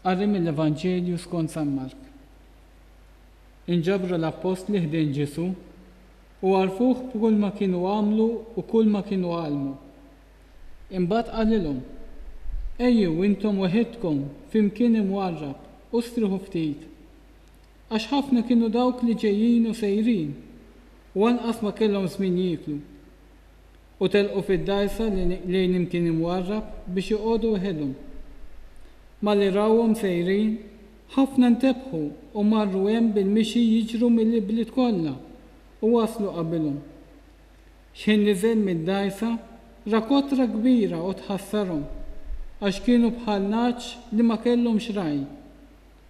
Qari mill-Evanġelju skont San Mark. Inġabru l-appostli ħdejn Ġesù u għarrfuh b'kulma kienu għamlu u kulma kienu għallmu. Imbagħad qalilhom, Ejjew intom weħidkom fi mkien imwarrab u strieħu ftit, għax ħafna kienu dawk li ġejjin u sejrin, u anqas ma kellhom żmien jieklu. u telqu fid-dgħajsa lejn imkien imwarrab biex joqogħdu weħedhom. Malli rawhom sejrin, ħafna ntebħu u marru hemm bil-mixi jiġru mill-ibliet kollha u waslu qabilhom. X'ħin niżel mid-dgħajsa, ra kotra kbira u tħassarhom, għax kienu bħal nagħaġ li ma kellhomx ragħaj,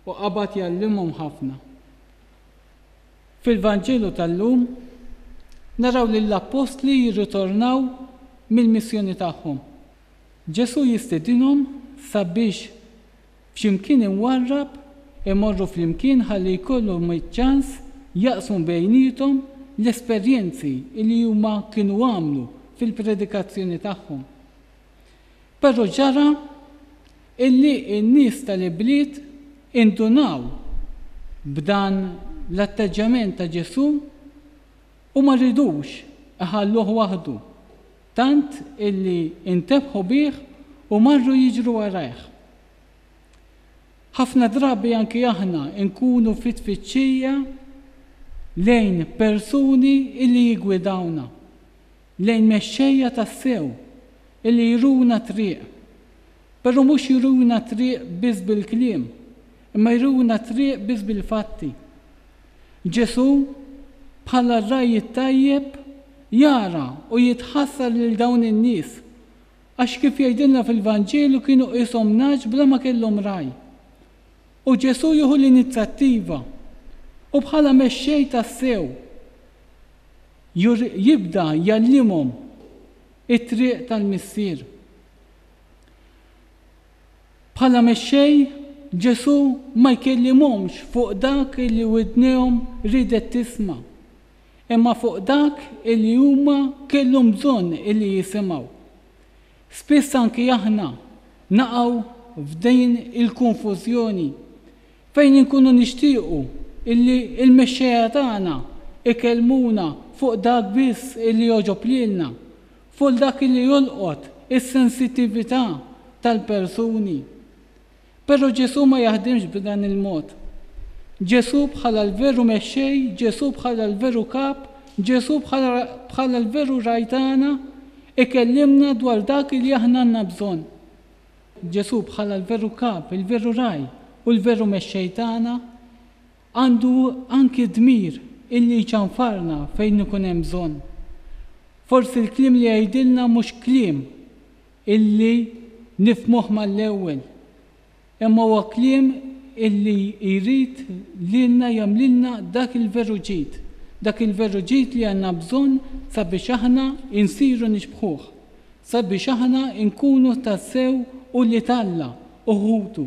u qabad jgħallimhom ħafna. Fil-Vanġelu tal-lum naraw lill-appostli jirritornaw mill-missjoni tagħhom. Ġesù jistedinhom sabiex f'x'imkien imwarrab imorru flimkien ħalli jkollhom iċ-ċans jaqsmu bejniethom l-esperjenzi li huma kienu għamlu fil-predikazzjoni tagħhom. Però ġara illi n-nies tal-ibliet indunaw b'dan l-atteġġjament ta' Ġesù u ma ridux iħalluh waħdu, tant illi ntebħu bih u marru jiġru warajh. Ħafna drabi anki aħna nkunu fi tfittxija lejn persuni illi jiggwidawna, lejn mexxejja tassew illi juruna t-triq, però mhux juruna t-triq biss bil-kliem, imma juruna t-triq biss bil-fatti. Ġesù, bħala r-ragħaj it-tajjeb, jara u jitħassar lil dawn in-nies, għax kif jgħidilna fil-Vanġelu kienu qishom nagħaġ bla ma kellhom ragħaj. U Ġesù jieħu l-inizzjattiva, u bħala mexxej tassew, Jur jibda jgħallimhom it-triq tal-Missier. Bħala Mexxej, Ġesù ma jkellimhomx fuq dak li widnejhom riedet tisma', imma fuq dak li huma kellhom bżonn li jisimgħu. Spiss anki aħna naqgħu f'din il-konfużjoni. Fejn inkunu nixtiequ illi l-mexxejja tagħna jkellmuna fuq dak biss illi jogħġob lilna, fuq dak illi jolqot is-sensittività tal-persuni. Però Ġesù ma jaħdimx b'dan il-mod. Ġesù bħala l-veru Mexxej, Ġesù bħala l-veru Kap, Ġesù bħala l-veru Ragħaj tagħna, ikellimna dwar dak illi aħna għandna bżonn. Ġesù bħala l-veru Kap, il-veru Ragħaj u l-veru Mexxej tagħna, għandu anki d-dmir illi jċanfarna fejn ikun hemm bżonn. Forsi l-kliem li jgħidilna mhux kliem illi nifhmuh mal-ewwel, imma huwa kliem illi jrid lilna jagħmlilna dak il-veru ġid, dak il-veru ġid li għandna bżonn sabiex aħna insiru nixbħuh. sabiex aħna nkunu tassew ulied Alla u ħutu.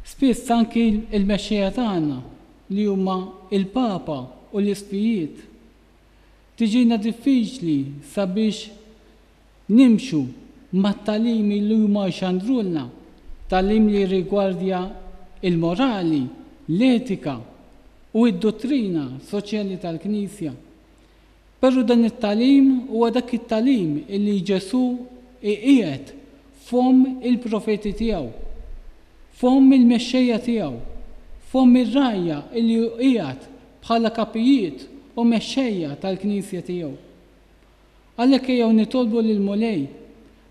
Spiss anki l-mexxejja tagħna, li huma l-Papa u l-Isqfijiet, tiġina diffiċli sabiex nimxu mat-tagħlimi li huma jxandrulna, tagħlim li jirrigwardja l-morali, l-etika u d-duttrina soċjali tal-Knisja. Perru dan it-tagħlim huwa dak it-tagħlim illi Ġesù iqiegħed f'fomm il-profeti tiegħu, f'fomm il-mexxejja tiegħu, f'fomm ir-rgħajja illi hu qiegħed bħala kapijiet u mexxejja tal-Knisja tiegħu. Għalhekk ejjew nitolbu lill-Mulej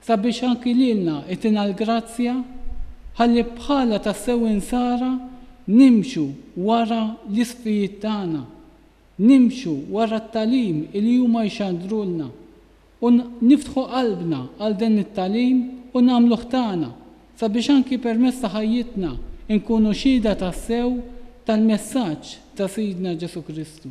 sabiex anki lilna itina l-grazzja ħalli bħala tassew Insara nimxu wara l-isqfijiet tagħna, Nimxu wara t-tagħlim li huma jxandrulna u niftħu qalbna għal dan it-tagħlim u nagħmluh tagħna, sabiex anki permezz ta' ħajjitna nkunu xhieda tassew tal-messaġġ ta' Sidna Ġesù Kristu.